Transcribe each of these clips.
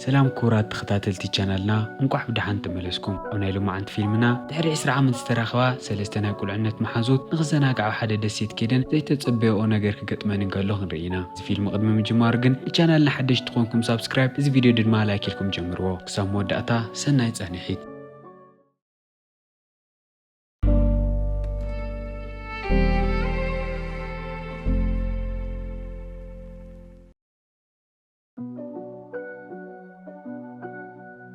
ሰላም ክቡራት ተኸታተልቲ ቻናልና እንቋዕ ብደሓን ተመለስኩም። ኣብ ናይ ሎማዓንቲ ፊልምና ድሕሪ ዕስራ ዓመት ዝተራኸባ ሰለስተ ናይ ቁልዕነት መሓዙት ንኽዘናግዓ ኣብ ሓደ ደሴት ከይደን ዘይተጸበያኦ ነገር ክገጥመን እንከሎ ክንርኢ ኢና። እዚ ፊልም ቅድሚ ምጅማሩ ግን ንቻናልና ሓደሽቲ ኮንኩም ሳብስክራይብ እዚ ቪድዮ ድማ ላይክ ኢልኩም ጀምርዎ። ክሳብ መወዳእታ ሰናይ ጻንሒት።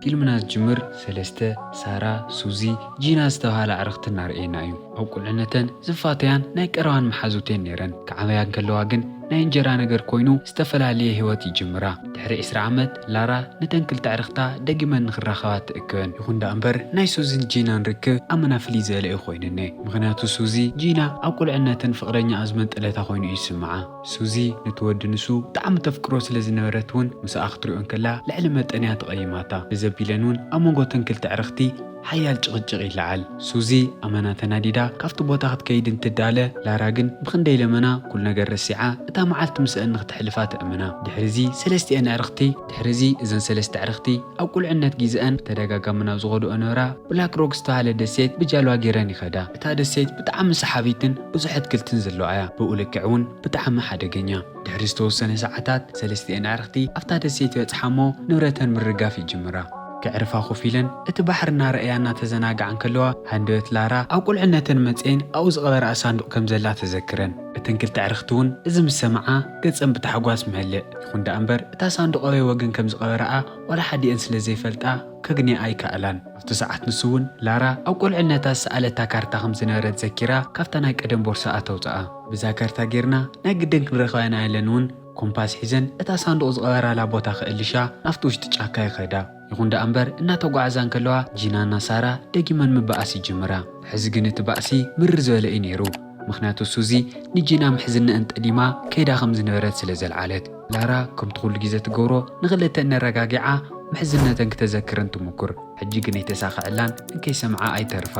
ፊልምና ዝጅምር ሰለስተ፣ ሳራ፣ ሱዚ፣ ጂና ዝተብሃላ ኣዕርኽቲ እናርኣየና እዩ። ኣብ ቁልዕነተን ዝፋተያን ናይ ቀረባን መሓዙት'የን ነይረን። ክዓበያ እንከለዋ ግን ናይ እንጀራ ነገር ኮይኑ ዝተፈላልየ ህይወት ይጅምራ። ድሕሪ ዕስራ ዓመት ላራ ነተን ክልተ ኣዕርኽታ ደጊመን ንኽራኸባ ትእክበን። ይኹን ደኣ እምበር ናይ ሱዚን ጂናን ርክብ ኣመና ፍልይ ዝበለ እዩ ኮይንኔ። ምኽንያቱ ሱዚ፣ ጂና ኣብ ቁልዕነተን ፍቕረኛኣ ዝመንጠለታ ኮይኑ እዩ ዝስምዓ። ሱዚ ነቲ ወዲ ንሱ ብጣዕሚ ተፍቅሮ ስለ ዝነበረት ውን ምሳኣ ክትሪኦ እንከላ ልዕሊ መጠን እያ ተቐይማታ። እዚ ኣቢለን ውን ኣብ መንጎ እተን ክልተ ኣዕርኽቲ ሓያል ጭቕጭቕ ይለዓል። ሱዚ ኣመና ተናዲዳ ካብቲ ቦታ ክትከይድ እንትዳለ ላራ ግን ብኽንደይ ለመና ኩሉ ነገር ረሲዓ እታ መዓልቲ ምሰኣን ንክተሕልፋ ተእምና። ድሕሪ እዚ ሰለስቲኤን ኣዕርኽቲ። ድሕሪ እዚ እዘን ሰለስተ ኣዕርኽቲ ኣብ ቁልዕነት ጊዘኣን ብተደጋጋሚ ናብ ዝኸድኦ ነበራ ብላክ ሮክ ዝተባህለ ደሴት ብጃልባ ገይረን ይኸዳ። እታ ደሴት ብጣዕሚ ሰሓቢትን ብዙሕ ኣትክልትን ዘለዋ እያ፣ ብኡ ልክዕ እውን ብጣዕሚ ሓደገኛ። ድሕሪ ዝተወሰነ ሰዓታት ሰለስቲኤን ኣዕርኽቲ ኣብታ ደሴት ይበጽሓ እሞ ንብረተን ምርጋፍ ይጅምራ። ከዕርፋ ኮፍ ኢለን እቲ ባሕሪ እናረኣያ እናተዘናግዓ እንከለዋ ሃንደበት ላራ ኣብ ቁልዕነተን መጺኤን ኣብኡ ዝቐበርኣ ሳንዱቕ ከም ዘላ ተዘክረን። እተን ክልተ ኣዕርኽቲ እውን እዚ ምስ ሰምዓ ገጸን ብታሕጓስ መለእ። ይኹን ደኣ እምበር እታ ሳንዱቕ ኣበይ ወገን ከም ዝቐበርኣ ዋላ ሓዲኤን ስለ ዘይፈልጣ ከግንያኣ ኣይከኣላን። ኣብቲ ሰዓት ንሱ'ውን ላራ ኣብ ቁልዕነታ ዝሰኣለታ ካርታ ከም ዝነበረት ዘኪራ ካብታ ናይ ቀደም ቦርሳኣ ተውጽኣ። ብዛ ካርታ ጌርና ናይ ግድን ክንረኽባ ኢና ኢለን'ውን ኮምፓስ ሒዘን እታ ሳንዱቕ ዝቐበራላ ቦታ ክእልሻ ናብቲ ውሽጢ ጫካ ይኸዳ። ይኹን ደኣ'ምበር እናተጓዕዛ እንከለዋ ጂናና ሳራ ደጊመን ምበኣስ ይጅምራ። ሕዚ ግን እቲ ባእሲ ምርር ዝበለ እዩ ነይሩ። ምኽንያቱ ሱዚ ንጂና ምሕዝነኣን ጠሊማ ከይዳ ከም ዝነበረት ስለ ዘልዓለት። ላራ ከምቲ ኩሉ ግዜ ትገብሮ ንኽልተ እነረጋጊዓ ምሕዝነተን ክተዘክረን ትሙኩር ሕጂ ግን ኣይተሳኸዐላን እንከይሰምዓ ኣይተርፋ።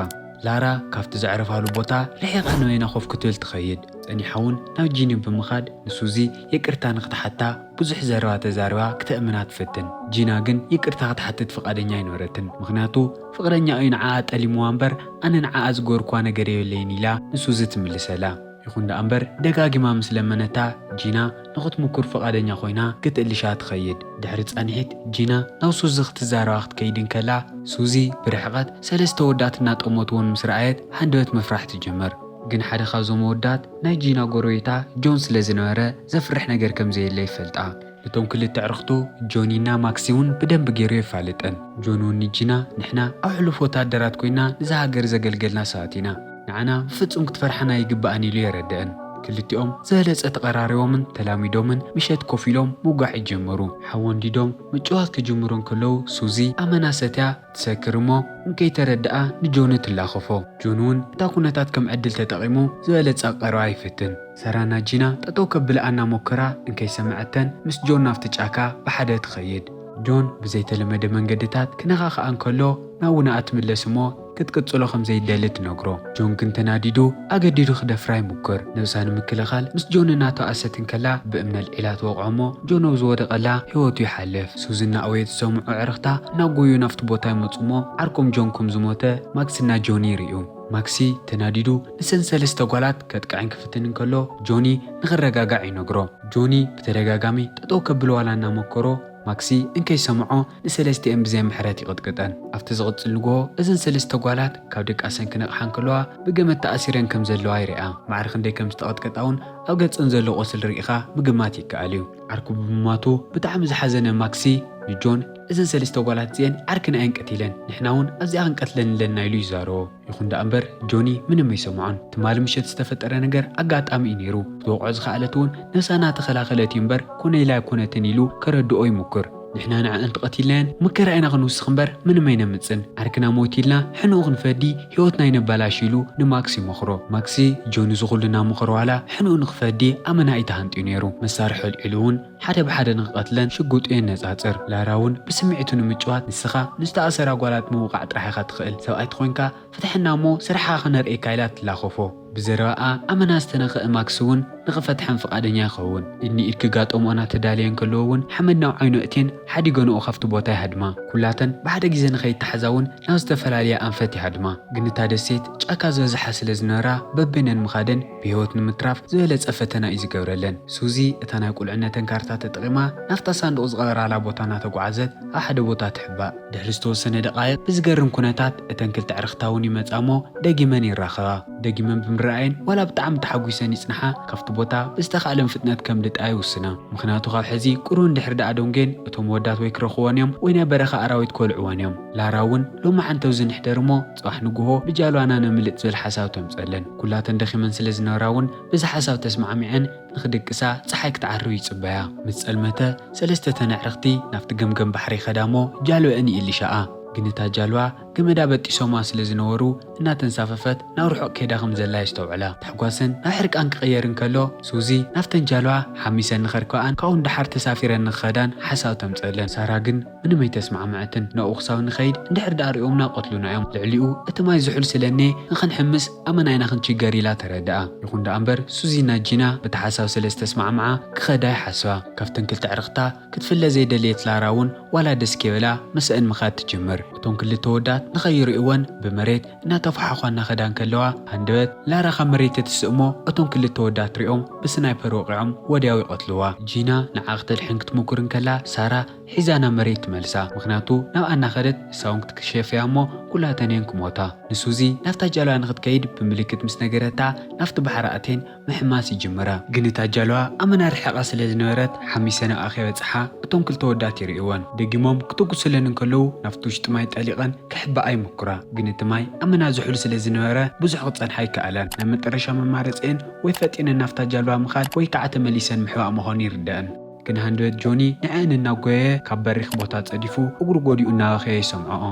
ላራ ካብቲ ዘዕረፋሉ ቦታ ርሒቓ ንበይና ኮፍ ክትብል ትኸይድ ጸኒሓ ውን ናብ ጂኒ ብምኻድ ንሱዚ ይቅርታ ንኽትሓታ ብዙሕ ዘረባ ተዛሪባ ክተእምና ትፍትን ጂና ግን ይቅርታ ክትሓትት ፍቃደኛ ኣይነበረትን ምኽንያቱ ፍቅረኛኣ ዩ ንዓኣ ጠሊምዋ እምበር ኣነ ንዓኣ ዝገበርክዋ ነገር የብለይን ኢላ ንሱዚ ትምልሰላ ይኹን ደኣ እምበር ደጋጊማ ምስ ለመነታ ጂና ንኽትምኩር ፍቓደኛ ኮይና ክትእልሻ ትኸይድ። ድሕሪ ጻንሒት ጂና ናብ ሱዚ ክትዛረባ ክትከይድ እንከላ፣ ሱዚ ብርሕቐት ሰለስተ ኣወዳት እናጠመትወን ምስ ረኣየት ሃንደበት ምፍራሕ ትጅምር። ግን ሓደ ካብዞም ኣወዳት ናይ ጂና ጎረቤታ ጆን ስለ ዝነበረ ዘፍርሕ ነገር ከም ዘየለ ይፈልጣ። እቶም ክልተ ኣዕርኽቱ ጆኒ እና ማክሲ እውን ብደንቢ ገይሩ የፋልጠን። ጆኒ እውን ንጂና፣ ንሕና ኣብ ሕሉፍ ወተሃደራት ኮይንና እዛ ሃገር ዘገልገልና ሰባት ኢና። ንዓና ብፍጹም ክትፈርሓና ኣይግባእን ኢሉ የረደእን። ክልቲኦም ዝበለጸ ተቐራሪቦምን ተላሚዶምን ምሸት ኮፍ ኢሎም ምውጋዕ ይጀምሩ። ሓዊ ኣንዲዶም ምጭዋት ክጅምሩ እንከለዉ ሱዚ ኣመና ሰትያ፣ ትሰክር እሞ እንከይተረድኣ ንጆኑ ትላኸፎ። ጆኑ'ውን እታ ኩነታት ከም ዕድል ተጠቒሙ ዝበለጸ ክቐርባ ይፍትን። ሰራና ጂና ጠጠው ከብልኣ እናሞከራ እንከይሰምዐተን ምስ ጆን ናብቲ ጫካ ብሓደ ትኸይድ። ጆን ብዘይተለመደ መንገድታት ክነኻኽኣ እንከሎ ናውናኣ ትምለስ እሞ ክትቅጽሎ ከም ዘይትደሊ ትነግሮ። ጆንግን ተናዲዱ ኣገዲዱ ክደፍራ ይሙክር። ነብሳ ንምክልኻል ምስ ጆን እናተዋእሰት እንከላ ብእምኒ ኣልዒላ ትወቕዖ እሞ ጆን ኣብ ዝወደቐላ ህይወቱ ይሓልፍ። ሱዚ እናእወየት ዝሰምዑ ኣዕርኽታ እናጎዩ ናብቲ ቦታ ይመጹ እሞ ዓርኮም ጆን ከም ዝሞተ ማክስና ጆኒ ይርእዩ። ማክሲ ተናዲዱ ንሰን ሰለስተ ጓላት ከጥቅዐን ክፍትን እንከሎ ጆኒ ንኽረጋጋዕ ይነግሮ። ጆኒ ብተደጋጋሚ ጠጠው ከብሎ ዋላ እናመከሮ፣ ማክሲ እንከይሰምዖ ንሰለስቲኤን ብዘይ ምሕረት ይቕጥቅጠን። ኣብቲ ዝቕጽል ንግሆ እዘን ሰለስተ ጓላት ካብ ድቃሰን ክነቕሓ እንከለዋ ብገመድ ተኣሲረን ከም ዘለዋ ይርኣ። ማዕረ ክንደይ ከም ዝተቐጥቀጣ'ውን ኣብ ገጸን ዘሎ ቁስል ርኢኻ ምግማት ይከኣል'ዩ። ዓርኩ ብምሟቱ ብጣዕሚ ዝሓዘነ ማክሲ ንጆን እዘን ሰለስተ ጓላት እዚኤን ዓርክና እየን ቀቲለን ንሕና'ውን ኣብዚኣ ክንቀትለን ኣለና ኢሉ ይዛረቦ። ይኹን ደኣ እምበር ጆኒ ምንም ኣይሰምዖን። ትማሊ ምሸት ዝተፈጠረ ነገር ኣጋጣሚ እዩ ነይሩ። ክትወቕዖ ዝኸኣለት እውን ነብሳ እናተኸላኸለት እዩ እምበር ኮነ ኢላ ኣይኮነትን ኢሉ ከረድኦ ይሙኩር። ንሕና ንዐኣን ተቐቲልናየን መከራ ኢና ክንውስኽ እምበር ምንም ኣይነምጽን። ዓርክና ሞት ኢልና ሕንኡ ክንፈዲ ህይወትና ኣይነበላሽ ኢሉ ንማክስ ይመኽሮ። ማክስ ጆኒ እዚ ኩሉ እናመኸሮ ዋላ ሕንኡ ንኽፈዲ ኣመና እዩ ተሃንጥዩ ነይሩ። መሳርሒ ኣልዒሉ እውን። ሓደ ብሓደ ንክቐትለን ሽጉጡ የነጻጽር። ላራ'ውን ብስምዒቱ ንምጭዋት፣ ንስኻ ንዝተኣሰራ ጓላት ምውቓዕ ጥራሕ ኢኻ ትኽእል፣ ሰብኣይ ተኾይንካ ፍትሓና እሞ ስርሕኻ ክነርእየካ ኢላ ትላኸፎ። ብዘረባኣ ኣመና ዝተነኽአ ማክስ'ውን ንክፈትሐን ፍቓደኛ ይኸውን። ኢድ ንኢድ ክጋጠምኦ እናተዳለየ እንከለዎ'ውን ሓመድ ናብ ዓይኑ ኣእትየን ሓዲገንኦ ካብቲ ቦታ ይሃድማ። ኩላተን ብሓደ ግዜ ንከይተሓዛ'ውን ናብ ዝተፈላለየ ኣንፈት ይሃድማ። ግን እታ ደሴት ጫካ ዝበዝሓ ስለ ዝነበራ በበይነን ምኻደን፣ ብህይወት ንምትራፍ ዝበለጸ ፈተና እዩ ዝገብረለን። ሱዚ እታ ናይ ቁልዕነተን ካርታ ተጠቒማ ናብታ ሳንዱቕ ዝቐበራላ ቦታ እናተጓዕዘት ኣብ ሓደ ቦታ ትሕባእ። ድሕሪ ዝተወሰነ ደቓይቕ ብዝገርም ኩነታት እተን ክልተ ኣዕርኽታ እውን ይመጻ'ሞ ደጊመን ይራኸባ። ደጊመን ብምርኣየን ዋላ ብጣዕሚ ተሓጒሰን ይጽንሓ ካብቲ ቦታ ብዝተኻእለን ፍጥነት ከምልጣ ይውስና። ምኽንያቱ ካብ ሕዚ ቁሩብ እንድሕሪ ደኣ ደንጒየን እቶም ኣወዳት ወይ ክረኽብወን እዮም ወይ ናይ በረኻ ኣራዊት ከልዕወን እዮም። ላራ እውን ሎሚ ዓንተብዚ ንሕደር'ሞ ጽባሕ ንግሆ ብጃልባና ነምልጥ ዝብል ሓሳብ ተምጸለን። ኩላተን ደኺመን ስለ ዝነበራ እውን በዚ ሓሳብ ተስማዕሚዐን ንኽድቅሳ ጸሓይ ክትዓርብ ይጽበያ። ምስ ጸልመተ ሰለስተ እተን ኣዕርኽቲ ናብቲ ገምገም ባሕሪ ይኸዳ እሞ ጃልበአን ይእልሻኣ። ግን እታ ጃልባ ገመዳ በጢሶማ ስለ ዝነበሩ እናተንሳፈፈት ናብ ርሑቕ ከይዳ ከም ዘላ የስተውዕላ። ታሕጓሰን ናብ ሕርቃን ክቕየር እንከሎ ሱዚ ናብተን ጃልባ ሓሚሰን ንኸርክበኣን ካብኡ ንደሓር ተሳፊረን ንኽኸዳን ሓሳብ ተምጸለን። ሳራ ግን ምንም ኣይተስማዕመዐትን ናብኡ ክሳብ ንኸይድ እንድሕር ድኣ ሪኦምና ይቀትሉና እዮም ልዕሊኡ እቲ ማይ ዝሑል ስለኔ ንኽንሕምስ ኣመናይና ክንቺገር ኢላ ተረድኣ ይኹን ድኣ እምበር ሱዚ ን ጂና በቲ ሓሳብ ስለዝተስማዕምዓ ክኸዳ ይሓስባ ካብተን ክልተ ኣዕርኽታ ክትፍለ ዘይደለየት ላራ ውን ዋላ ደስ ከይበላ ምሰእን ምኻድ ትጅምር እቶም ክልተ ኣወዳት ንኸይሪእወን ብመሬት እናተፋሓዃ እናኸዳ እንከለዋ ሃንደበት ላራ ካብ መሬት ትትስእሞ እቶም ክልተ ኣወዳት ሪኦም ብስናይፐር ወቂዖም ወድያው ይቀትልዋ ጂና ንዓ ክተድሕን ክትሙኩር እንከላ ሳራ ሒዛ ናብ መሬት ትመልሳ ምኽንያቱ ናብኣ እናኸደት ንሳ ውን ክትክሸፍ እያ እሞ ኩላተን እየን ክሞታ። ንሱዚ ናብታ ጃልባ ንኽትከይድ ብምልክት ምስ ነገረታ ናብቲ ባሕሪ ኣትየን ምሕማስ ይጅምራ። ግን እታ ጃልባ ኣመና ርሒቓ ስለ ዝነበረት ሓሚሰ ናብኣ ከይበጽሓ እቶም ክልተ ወዳት ይርእይወን ደጊሞም ክተጉሱለን እንከለዉ ናብቲ ውሽጢ ማይ ጠሊቐን ከሕብኣ ይሙኩራ ግን እቲ ማይ ኣመና ዝሑል ስለ ዝነበረ ብዙሕ ክጸንሓ ኣይከኣላን ናይ መጠረሻ መማረጺኤን ወይ ፈጢነን ናብታ ጃልባ ምኻድ ወይ ከኣ ተመሊሰን ምሕባእ ምዃኑ ይርደኣን። ግን ሃንደበት ጆኒ ንዐኣን እናጎየየ ካብ በሪኽ ቦታ ጸዲፉ እግሩ ጎዲኡ እናበኸየ ይሰምዖኦ።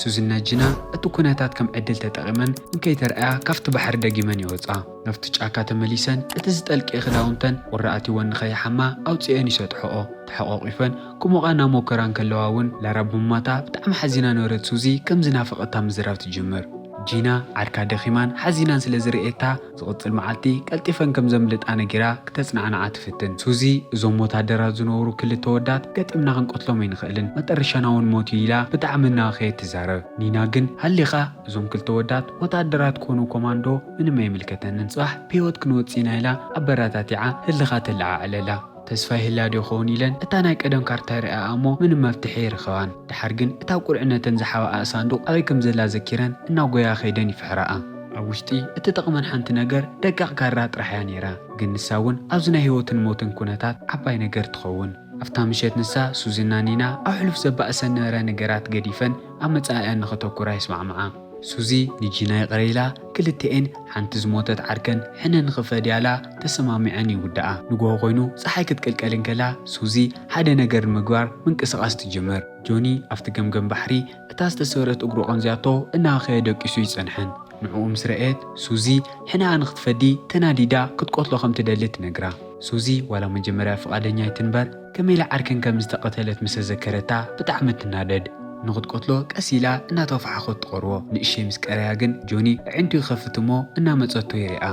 ሱዚና ጂና እቲ ኩነታት ከም ዕድል ተጠቒመን እንከይተርኣያ ካብቲ ባሕሪ ደጊመን ይወጻ። ናብቲ ጫካ ተመሊሰን እቲ ዝጠልቀየ ክዳውንተን ቁሪ ኣትዩወን ንኸይሓማ ኣውጺኤን ይሰጥሖኦ። ተሓቋቊፈን ክሞቓ እናሞከራ እንከለዋ እውን ላራ ብምማታ ብጣዕሚ ሓዚና ነበረት ሱዚ ከም ዝናፈቐታ ምዝራብ ትጅምር። ጂና ዓርካ ደኺማን ሓዚናን ስለ ዝርኤታ፣ ዝቕጽል መዓልቲ ቀልጢፈን ከም ዘምልጣ ነጊራ ክተጽናዕንዓ ትፍትን። ሱዚ፣ እዞም ወታደራት ዝነበሩ ክልተ ኣወዳት ገጢምና ክንቀትሎም ኣይንኽእልን፣ መጠረሻና እውን ሞት እዩ ኢላ ብጣዕሚ እናበኸየት ትዛረብ። ኒና ግን፣ ሃሊኻ! እዞም ክልተ ኣወዳት ወታደራት ኮኑ ኮማንዶ ምንም ኣይምልከተንን፣ ጽባሕ ብህይወት ክንወጽእ ኢና ኢላ ኣበረታቲዓ ህልኻ ተለዓዕለላ። ተስፋ ይህልያ ዶ ይኸውን ኢለን እታ ናይ ቀደም ካርታ ይርእያኣ'ሞ ምንም መፍትሒ ኣይረኸባን። ደሓር ግን እታ ቁልዕነተን ዝሓብኣኣ ሳንዱቕ ኣበይ ከም ዘላ ዘኪረን እናጎያ ከይደን ይፍሕራኣ። ኣብ ውሽጢ እትጠቕመን ሓንቲ ነገር ደቃቕ ካራ ጥራሕ'ያ ነይራ። ግን ንሳ'ውን ኣብዚ ናይ ህይወትን ሞትን ኩነታት ዓባይ ነገር ትኸውን። ኣብታ ምሸት ንሳ፣ ሱዚና ኒና ኣብ ሕሉፍ ዘባእሰን ዝነበረ ነገራት ገዲፈን ኣብ መጻኢኣን ንኸተኩራ ይስማዕምዓ። ሱዚ ንጂና ይቕረ ኢላ ክልተኤን ሓንቲ ዝሞተት ዓርከን ሕነ ንኽፈድያ እላ ተሰማሚዐን ይውድኣ። ንጉሆ ኮይኑ ጸሓይ ክትቅልቀል እንከላ ሱዚ ሓደ ነገር ንምግባር ምንቅስቓስ ትጅምር። ጆኒ ኣብቲ ገምገም ባሕሪ እታ ዝተሰብረት እግሩ ቀንዝያቶ እናሃኸየ ደቂሱ ይጸንሐን። ንዕኡ ምስ ረኣየት ሱዚ ሕነኣ ንኽትፈዲ ተናዲዳ ክትቆትሎ ከም ትደሊ ትነግራ። ሱዚ ዋላ መጀመርያ ፍቓደኛ ኣይትንበር፣ ከመይ ኢላ ዓርከን ከም ዝተቐተለት ምስ ተዘከረታ ብጣዕሚ ትናደድ። ንኽትቀትሎ ቀስ ኢላ እናተፋሓኾት ትቐርቦ። ንእሸይ ምስ ቀረያ ግን ጆኒ ኣዒንቱ ይኸፍት እሞ እናመጸቶ ይሪኣ።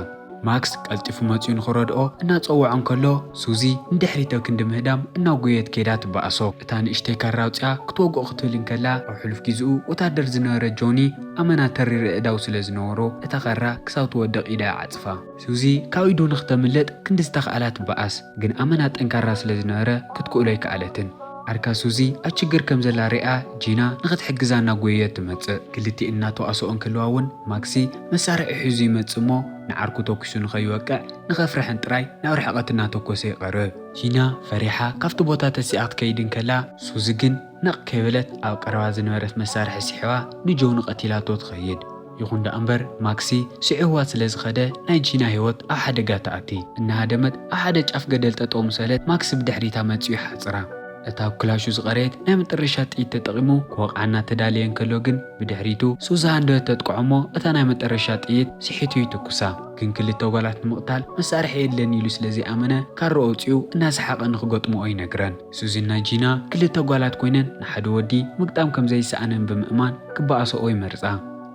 ማክስ ቀልጢፉ መጺኡ ንኽረድኦ እናጸወዖ እንከሎ ሱዚ ንድሕሪት ኣብ ክንዲ ምህዳም እናጎየት ከይዳ ትበኣሶ። እታ ንእሽተይ ካራ ኣውጺኣ ክትወግኦ ክትብል እንከላ ኣብ ሕሉፍ ጊዝኡ ወታደር ዝነበረ ጆኒ ኣመና ተሪር ኣእዳው ስለ ዝነበሮ እታ ካራ ክሳብ ትወድቕ ኢዳ ይዓጽፋ። ሱዚ ካብ ኢዱ ንክተምልጥ ክንዲ ዝተኽኣላ ትበኣስ፣ ግን ኣመና ጠንካራ ስለ ዝነበረ ክትክእሎ ኣይከኣለትን። ዓርካ ሱዚ ኣብ ችግር ከም ዘላ ሪኣ ጂና ንክትሕግዛ እናጎየየት ትመጽእ። ክልቲኤን እናተዋሰኦ እንከለዋ ውን ማክሲ መሳርሒ ሒዙ ይመጽእ እሞ ንዓርኩ ተኲሱ ንከይወቅዕ ንከፍርሐን ጥራይ ናብ ርሕቐት እናተኮሰ ይቐርብ። ጂና ፈሪሓ ካብቲ ቦታ ተሲኣ ክትከይድ እንከላ ሱዚ ግን ነቕ ከይበለት ኣብ ቀረባ ዝነበረት መሳርሒ ሲሒባ ንጆኒ ቀቲላቶ ትኸይድ። ይኹን ደኣ እምበር ማክሲ ስዒርዋ ስለ ዝኸደ ናይ ጂና ህይወት ኣብ ሓደጋ ተኣቲ። እናሃደመት ኣብ ሓደ ጫፍ ገደል ጠጠው ምሰለት ማክሲ ብድሕሪታ መጺኡ ይሓጽራ። እታ ኣብ ክላሹ ዝቐረየት ናይ መጠረሻ ጥይት ተጠቒሙ ክወቕዓ እናተዳለየ እንከሎ ግን ብድሕሪቱ ሱዛን ዶ ተጥቅዖ እሞ እታ ናይ መጠረሻ ጥይት ስሒቱ ይትኩሳ። ግን ክልተ ጓላት ንምቕታል መሳርሒ የድልየኒ ኢሉ ስለ ዘይኣመነ ካርኡ ኣውጺኡ እናሰሓቐ ንኽገጥምኦ ይነግረን። ሱዚን ናይ ጂና ክልተ ጓላት ኮይነን ንሓደ ወዲ ምግጣም ከም ዘይሰኣነን ብምእማን ክበኣሰኦ ይመርጻ።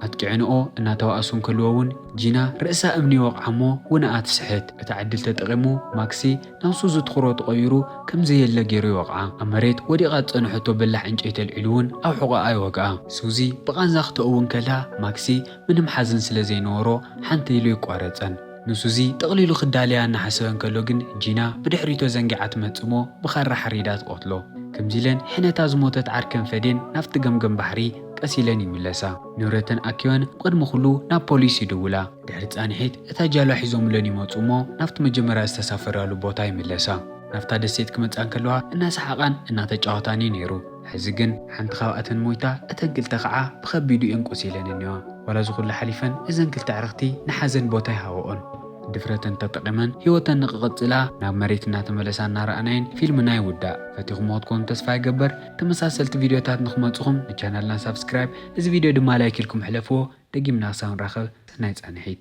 ኣጥቂዐንኦ እናተባእሱ እንከልዎ እውን ጂና ርእሳ እምኒ ይወቕዓ እሞ ውነኣ ትስሕት። እታ ዕድል ተጠቒሙ ማክሲ ናብ ሱዚ ትኹሮ ተቐይሩ ከም ዘየለ ገይሩ ይወቕዓ። ኣብ መሬት ወዲቓ ዝጸንሐቶ በላሕ ዕንጨይቲ ኣልዒሉ እውን ኣብ ሕቖኣ ይወግኣ። ሱዚ ብቓንዛ ክተእዊ እንከላ ማክሲ ምንም ሓዘን ስለ ዘይነበሮ ሓንተይ ኢሉ ኣይቋረጸን። ንሱዚ ጠቕሊሉ ክዳለያ እናሓሰበ እንከሎ ግን ጂና ብድሕሪቶ ዘንጊዓ ትመጽእሞ ብኻራ ሓሪዳ ትቐትሎ። ከምዚ ኢለን ሕነታ ዝሞተት ዓርከን ፈዴን ናብቲ ገምገም ባሕሪ ቀስ ኢለን ይምለሳ። ንብረተን ኣኪበን ብቕድሚ ኩሉ ናብ ፖሊስ ይድውላ። ድሕሪ ጻንሒት እታ ጃልባ ሒዞምለን ይመጽኡሞ ናብቲ መጀመርያ ዝተሳፈራሉ ቦታ ይምለሳ። ናብታ ደሴት ክመጻ እንከለዋ እናሰሓቓን እናተጫወታንዩ ነይሩ። ሕዚ ግን ሓንቲ ካብኣተን ሞይታ እተን ክልተ ከዓ ብከቢዱ እየን ቆሲለን እኒዋ። ዋላ እዚ ኩሉ ሓሊፈን እዘን ክልተ ኣዕርኽቲ ንሓዘን ቦታ ኣይሃበኦን። ድፍረተን ተጠቒመን ህይወተን ንክቕፅላ ናብ መሬት እናተመለሳ እናረኣናየን ፊልምና ይውዳእ። ፈቲኹምዎ ትኮኑ ተስፋ ይገብር። ተመሳሰልቲ ቪድዮታት ንክመፅኹም ንቻናልና ሳብስክራይብ እዚ ቪድዮ ድማ ላይክ ኢልኩም ሕለፍዎ። ደጊምና ክሳብ ንራኸብ ሰናይ ፃንሒት።